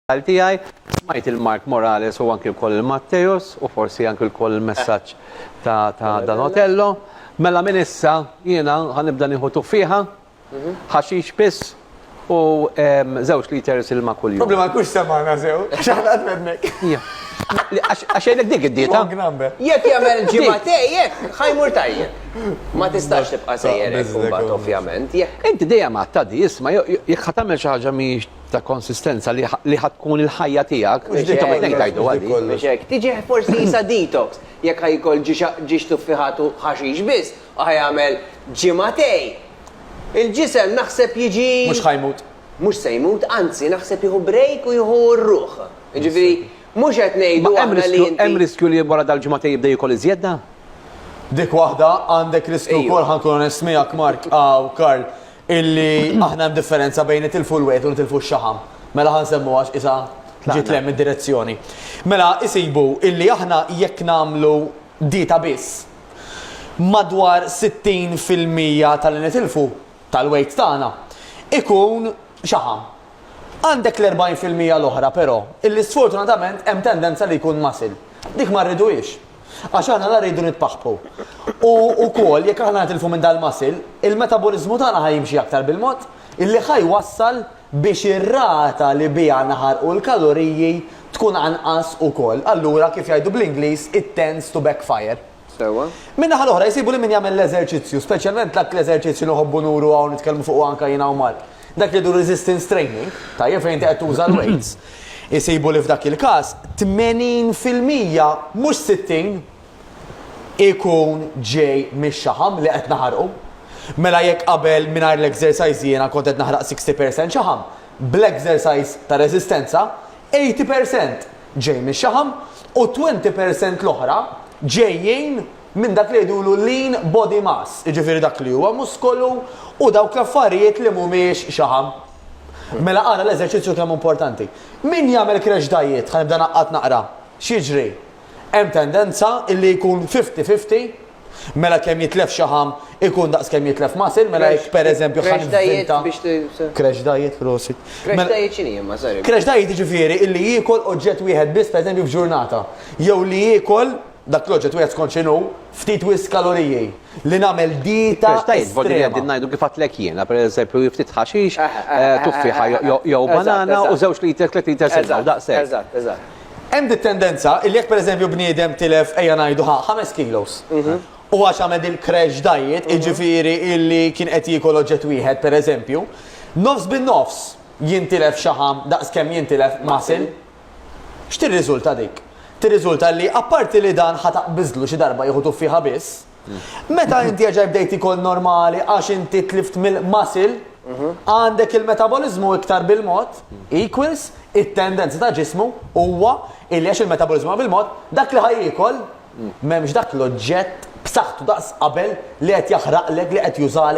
Qal tiegħi, smajt lil Mark Morales u anki wkoll lil Matteus u forsi anki wkoll il-messaġġ ta' ta' Dan Otello. Mela minn issa jiena ħa nibda nieħu tuffieħa, ħaxix biss u ehm, żewġ liters ilma kuljum. Problema jkunx semana sew, għax aħna qed fednek. Ja. Għax għax jgħidlek dik id-dieta. Long number. Jekk jagħmel ġimagħtej hekk, ħajmur tajjeb. Ma tistax tibqa' sejjer hekk imbagħad ovvjament. Jekk Inti dejjem għadd tgħaddi, isma' jew jekk ħa tagħmel xi ħaġa mhijiex ta' konsistenza li ħa tkun il-ħajja tiegħek. Mhux din tagħmel tnejn tgħidulha din. Mhux hekk. Tiġi forsi qisha detox. Jekk ħa jkoll ġiex tuffiħat u ħaxix biss u ħa jagħmel ġimgħatej, il-ġisem naħseb jiġi. Mhux ħa jmut. Mhux se jmut, anzi naħseb jieħu break u jieħu r-ruħ. Jiġifieri mhux qed ngħidu aħna li inti. Hemm riskju li wara dal-ġimgħatej jibda jiekol iżjed da? Dik waħda, għandek riskju wkoll ħa nkun onest miegħek Mark, u Karl, Illi aħna hemm differenza bejn nitilfu l-wiegħed u nitilfu x-xaħam. Mela ħa nsemmuha għax qisha ġiet lejn mid-direzzjoni. Mela isibu illi aħna jekk nagħmlu dieta biss, madwar 60 fil-mija ta' li nitilfu, tal-weight tagħna, ikun xaħam. Għandek l-40 fil-mija l-oħra però, illi sfortunatament hemm tendenza li jkun muscle. Dik ma rriduhiex. Għax aħna la rridu nitpaħħpu. U wkoll jekk aħna nitilfu minn dal-muscle, il-metaboliżmu tagħna ħa jimxi aktar bil-mod, illi ħa jwassal biex ir-rata li biha naħarqu l-kaloriji tkun anqas ukoll. Allura, kif jgħidu bl-Ingliż, it tends to backfire. Sewwa. Min-naħa l-oħra, jsibu li min jagħmel l-eżerċizzju, speċjalment dak l-eżerċizzju li nħobbu nuru hawn nitkellmu fuqu anke jiena u Mark, Dak li jdu resistance training, tajjeb fejn inti qed tuża l-weights, isibu li f'dak il-każ 80 fil-mija, mhux 60, ikun ġej mix-xaħam li qed naħarqu. Mela jekk qabel mingħajr l-exercise jiena kont qed naħraq 60 percent xaħam, bl-exercise ta' reżistenza 80 percent ġej mix-xaħam u 20 percent l-oħra ġejjin minn dak li jgħidulu lean body mass, jiġifieri dak li huwa muskolu u dawk l-affarijiet li mhumiex xaħam. Mela ara l-eżerċizzju kemm hu importanti. Min jagħmel crash diet, ħa nibda ngħaqqad naqra, x'jiġri? Hemm tendenza illi jkun fifty fifty, mela kemm jitlef xaħam ikun daqs kemm jitlef muscle, mela jekk pereżempju ħa nivvinta. Crash diet biex t. Crash diet, prosit. Crash diet x'inhi imma, sorry. Crash diet jiġifieri illi jiekol oġġett wieħed biss pereżempju f'ġurnata, jew li jiekol, Dak l-oġġett wieħed skont x'inhu, ftit wisq kaloriji, li nagħmel dieta estrema. Tgħid, vot li qegħdin ngħidu kif għadtlek jiena, pereżempju, hi ftit ħaxix, tuffieħa jew banana u żewġ liter, tliet liters ilma, u daqshekk. Eżatt, eżatt, eżatt. Hemm dit-tendenza illi jekk pereżempju bniedem tilef, ejja ngħidu ħa, ħames kilos, u għax għamel dil-crash diet, jiġifieri illi kien qed jiekol oġġett wieħed pereżempju, nofs bin-nofs jintilef xaħam daqs kemm jintilef muscle. X'tirriżulta dik? Tirriżulta li apparti li dan ħa taqbiżlu xi darba jieħu tuffieħa biss, meta inti jerġa' jibda jtik għol normali għax inti tlift mill-muscle, għandek il-metaboliżmu iktar bil-mod, equals, it-tendenza ta' ġismu, huwa, illi għax il-metaboliżmu huwa bil-mod, dak li ħa jiekol, m'hemmx dak l-oġġett b'saħħtu daqs qabel li qed jaħraqlek, li qed jużalek.